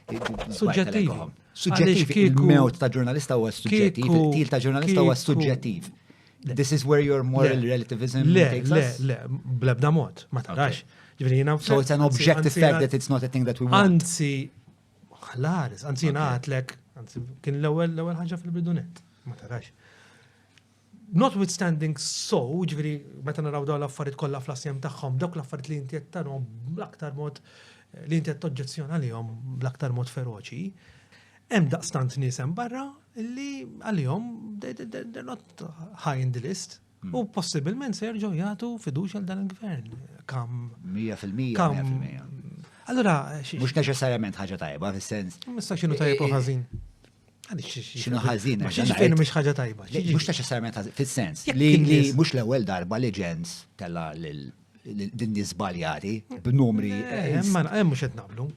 Suġġettiv. Suġġettiv il-mewt ta' ġurnalista huwa suġġettiv, il-til ta' ġurnalista huwa suġġettiv. This is where your moral relativism takes us. Le, le, blebda mod, ma tarax. So it's an objective fact that it's not a thing that we want. Anzi, ħlaris, anzi naħatlek, anzi kien l-ewwel l-ewwel ħaġa fil-bidunet, ma tarax. Notwithstanding so, ġifieri meta naraw dawn l-affarijiet kollha fl-assjem tagħhom, dawk l-affarijiet li inti qed tarhom bl-aktar mod li inti qed toġġezzjona lihom bl-aktar mod feroċi, hemm daqstant nies hemm barra li għalihom they're not high in the list. U hmm. possibilment se jerġgħu jagħtu fiduċja għal dan il-gvern. Kam. 100% kam. Allura, mhux neċessarjament ħaġa tajba fis-sens. Mista x'inhu tajjeb u ħażin. Xinu ħazin. Ma xiex fejn mux ħagġa tajba. Mux ta' xessarment ħazin, fil-sens. Li mux l-ewel darba li ġens tella din nizbaljati b'numri. Eh, eh, ma eh, mux qed naqblu.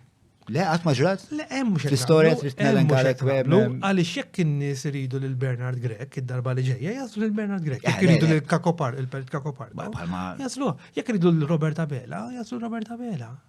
Le, għat maġrat? Le, hemm mux L-istoria trid tnellem għalek weblu. Għaliex jekk in-nies iridu lil Bernard Grek, id-darba li ġejja, jaslu lil Bernard Grek. Jekk iridu lil Kakopar, il-Pelt Kakopar. Jaslu, jekk iridu lil Robert Abela, jaslu Robert Abela.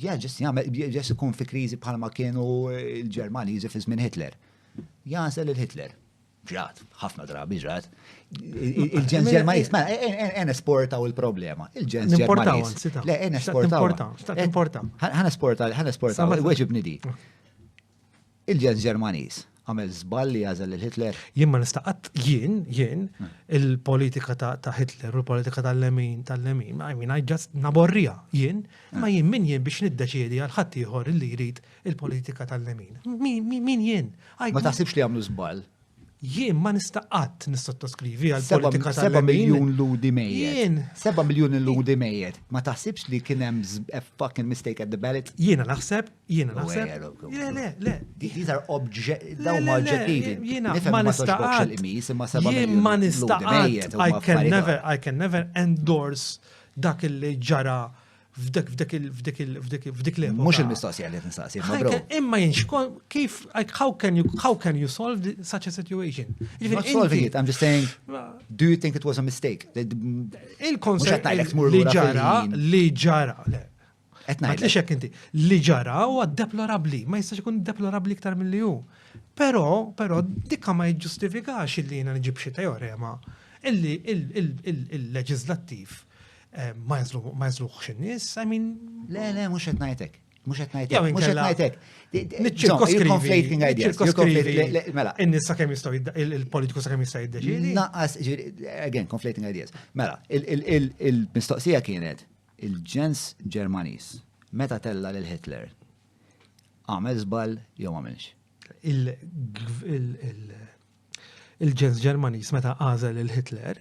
Ja ġest jagħmel ġest ikun fi kriżi bħalma kienu l-Ġermaniżi fi żmien Hitler. Jażel il-Hitler. Ġrat, ħafna drabi ġrat. Il-ġens Ġermaniż, ma mela, en e- e- e- esportaw il-problema. Il-ġens Ġermaniż. Le, en esportaw. Ħan esportaw, ħan esportaw, weġibni di. Il-ġens Ġermaniż għamel żball li għażel lil Hitler? Jien ma nista' qatt, jien, jien, il-politika ta' Hitler u l-politika tal-lemin, tal-lemin, I mean, I just naborrija, jien, ma jien min jien biex niddeċiedi għal ħadd ieħor li jrid il-politika tal-lemin. Min jien? Ma taħsibx li għamlu żball? Jien ma nista' qatt nissottoskrivi għal politika ta' 7 miljun ludi mejjed. 7 miljun ludi mejjed. Ma taħsibx li kien hemm a fucking mistake at the ballot? Jiena naħseb, jiena naħseb. Le, le, le. These are oġġettivi. Jiena ma nista' qatt. Jien ma nista' qatt. I can never endorse dak li ġara f'dik f'dik f'dik f'dik f'dik l Mhux il-mistoqsija li tinstaqsi, ma bro. Imma jinx kif like how can you how can you solve such a situation? Not solving it, I'm just saying do you think it was a mistake? Il-konsept li ġara li ġara Qed ngħid. Li xek inti li ġara huwa deplorabbli, ma jistax ikun deplorabbli iktar milli hu. Però, però dikka ma jiġġustifikax illi jiena nġib xi teorema illi il-leġislattiv Eh, ma jazluħx in-nies, I mean. Le, le, mhux qed ngħidlek. Mhux qed ngħidlek. Mhux qed ngħidlek. Conflating ideas. Mela. In-nies sakemm jistgħu il-politiku sakemm jista' jiddeċidi. Naqas, again, conflating ideas. Mela, il-mistoqsija kienet il-ġens Ġermaniż meta tella lil Hitler għamel żball jew għamilx. Il-ġens Ġermaniż meta għażel lil Hitler,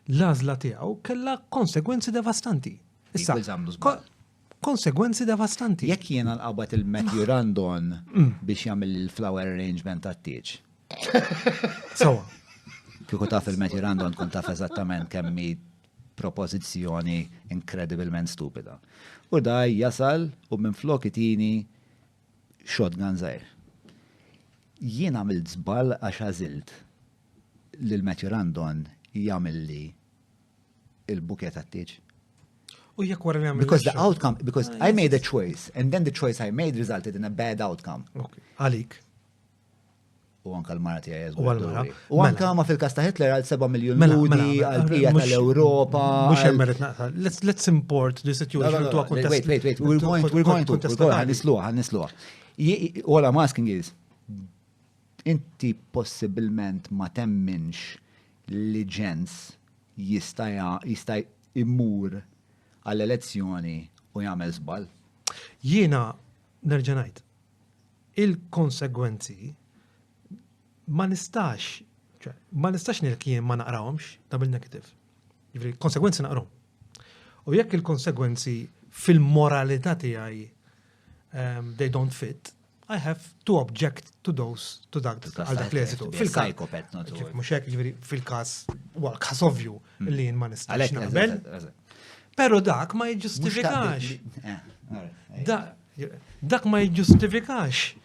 l-għażla tiegħu kellha konsegwenzi devastanti. Issa, konsegwenzi devastanti. Jekk jiena nqabad il-Matthew Randon mm. biex jagħmel il-flower arrangement tat-tieġ. Sawa. Kieku taf il-Matthew Randon tkun taf eżattament kemm propożizzjoni inkredibilment stupida. U daj jasal u minn flok itini shotgun żgħir. Jien għamilt żball għax għażilt lil Matthew Randon jagħmilli il-buket għat-tieġ. U jekk wara nagħmel. Because the outcome, because ah, I made a choice, and then the choice I made resulted in a bad outcome. Għalik. U anka l-mara tiegħi għazgu. U għal-mara. U anka mela. ma fil-kas ta' Hitler għal 7 miljon mela, mela, ludi, għal bija tal-Europa. Mux jemmerit naqta. Let's import the situation to a contest. Wait, wait, wait. We're going to, we're going to, we're going to, għanisluħ, għanisluħ. All I'm asking is, inti possibilment ma temminx li ġens jista' jista' immur għall-elezzjoni u jagħmel żball. Jiena nerġa' ngħid, Il-konsegwenzi ma nistax, ma nistax nilkien ma naqrawhomx double negative. Ġifri, konsegwenzi naqrom. U jekk il-konsegwenzi fil-moralità tiegħi um, they don't fit, I have to object to those, to that, għal dak l-eżitu. Fil-psychopath, not Mux hekk, ġviri, fil-kas, well, kas ovvju mm. li jien ma nistax naqbel. Pero dak ma jġustifikax. Eh, eh, eh. Dak ma jiġġustifikax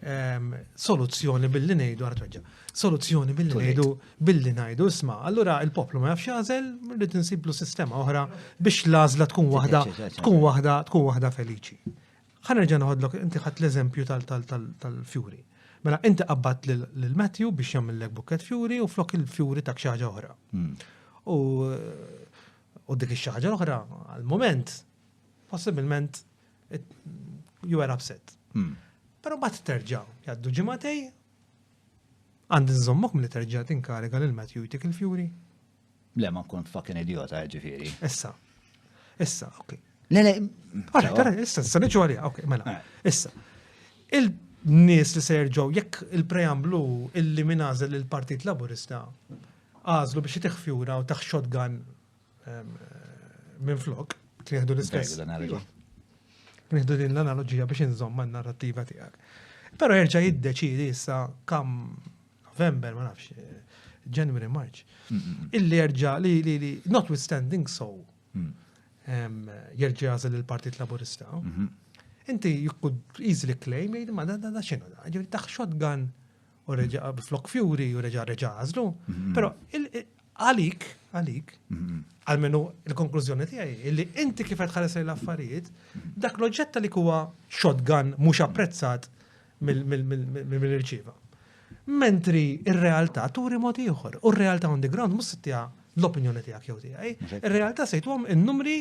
soluzzjoni billi ngħidu ara tweġġa. Soluzzjoni billi ngħidu billi ngħidu isma' allura il-poplu ma jafx jażel rrid insiblu sistema oħra biex l-għażla tkun waħda tkun waħda tkun waħda feliċi. Ħanerġa' noħodlok inti ħadd l-eżempju tal-fjuri. Mela inti qabbat lil Matthew biex jagħmillek bukket fjuri u flok il-fjuri tak xi ħaġa oħra. Hmm. U dik ix-xi ħaġa oħra għall-moment possibilment you were upset. Hmm. Pero bat terġa jaddu ġimatej, għandi nżommok mill terġa tinkariga lil Matthew jtik il-fjuri. Le, ma nkun fucking idiota, ġifiri. Issa. Issa, ok. Le, le. Għara, għara, issa, issa, nġu għalija, ok, mela. Eh. Issa. Il-nis li serġaw, jekk il-preamblu illi minazel il-Partit Laburista, għazlu biex jtiħ fjura u taħ shotgun Minn flok, tieħdu l-istess. Nieħdu din l-analogija biex inżomm man narrativa tiegħek. Però jerġa' jiddeċidi issa kam November, ma nafx, January, March. Illi jerġa' li li li notwithstanding so mm. jerġa' jażel il-Partit Laburista. Mhm. Inti you could easily claim jgħid ma da da xinu da. Ġifieri taħ shotgun u reġa' flok fjuri u reġa' reġa' għażlu. Mhm. Però għalik, għalik, mhm. għalmenu il-konklużjoni tiegħi li inti kif qed ħares l-affarijiet, mhm. dak l-oġġett li huwa shotgun mhux apprezzat mill-irċiva. Mentri ir-realtà turi mod ieħor u r-realtà on the ground mhux tiegħek l-opinjoni tiegħek jew tiegħi. Ir-realtà se jtuhom in-numri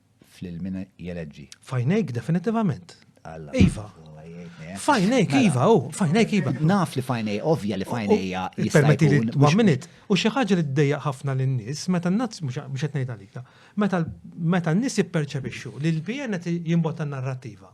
Fl-ilmina jeleġġi. Fajnejk definitivament. Iva. Fajnejk, Iva, u, fajnejk, Iva. Naf li fajnej, ovvja li fajnejja. Permetti li one minute. U xi ħaġa li d-dejja ħafna l-nis, meta n-nazz, mux għetnejt għalik, meta n-nis jipperċepixxu li l-PN jimbotta narrativa.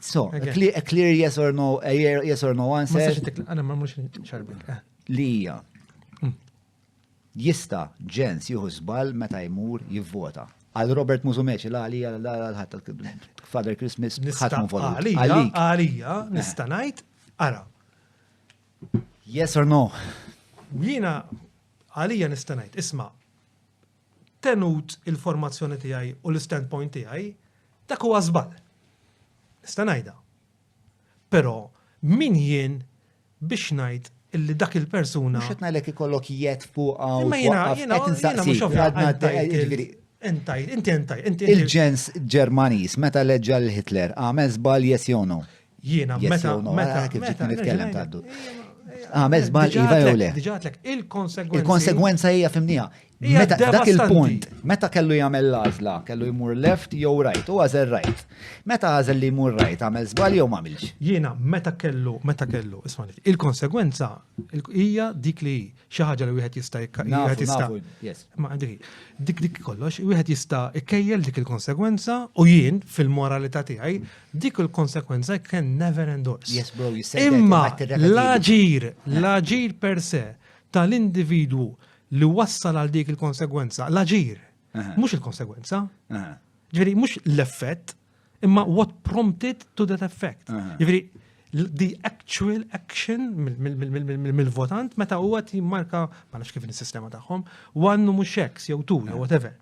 So, a clear, a clear yes or no, a yes or no answer. Għana ma mux ċarbik. Eh. Li hija. Mm. Jista ġens juhu zbal meta jmur jivvota. Għal Robert Muzumeċi, la għalija, la għal-ħat Father Christmas, ħat vota. Għalija, għalija, eh. nista najt, għara. Yes or no? Jina, għalija nista najt, isma, Tenut il-formazzjoni tiegħi u l-standpoint tiegħi, dak huwa żball. Nista' ngħidha. Però min jien biex ngħid illi dak il-persuna. Mhux qed ngħidlek ikollok jed fuqha u qed insaqsi. Inti inti inti. Il-ġens Ġermaniż meta leġġa l-Hitler għamel żball yes jew no? Jiena, meta, meta, kif ġiet nitkellem taddu. Għamel zbal iva jew le. Il-konsegwenza. Il-konsegwenza hija fimnija. Meta dak il-punt, meta kellu jagħmel l-għażla, kellu jmur left jew right, u għażel right. Meta għażel li jmur right, għamel żbal jew m'għamilx. Jiena meta kellu, meta kellu, isma' il-konsegwenza hija dik li xi ħaġa li wieħed jista' wieħed jista' ma dik dik kollox, wieħed jista' ikkejjel dik il-konsegwenza u jien fil-moralità tiegħi dik il-konsegwenza can never endorse. Yes bro, you said Imma l-aġir, l-aġir per se tal-individwu li wassal għal dik il-konsegwenza, l-aġir, mhux il-konsegwenza. Ġifieri mhux l-effett, Imma what prompted to that effect? Jiġifieri the actual action mill-votant meta huwa timmarka ma nafx kif is-sistema tagħhom, one u mhux X jew two jew whatever.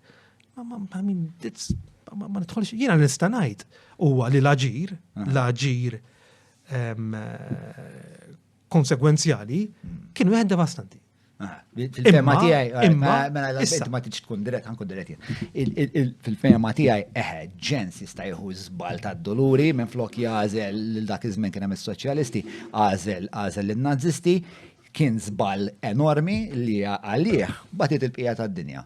I mean, it's ma nidħolx jiena nista' ngħid huwa li l-aġir, l-aġir ehm, konsegwenzjali kien wieħed devastanti. Ah, fil-fema tiegħi, eh, imma eh, mela, mela, ma tiġ tkun dirett, ħankun dirett jien. Fil-fema tiegħi, eħe, eh, ġens jista' jieħu żbal tad-doluri minn flok jażel lil dak iż-żmien kien hemm is-soċjalisti, għażel għażel lin-Nazisti, kien żbal enormi li għalih batit il-bqija tad-dinja.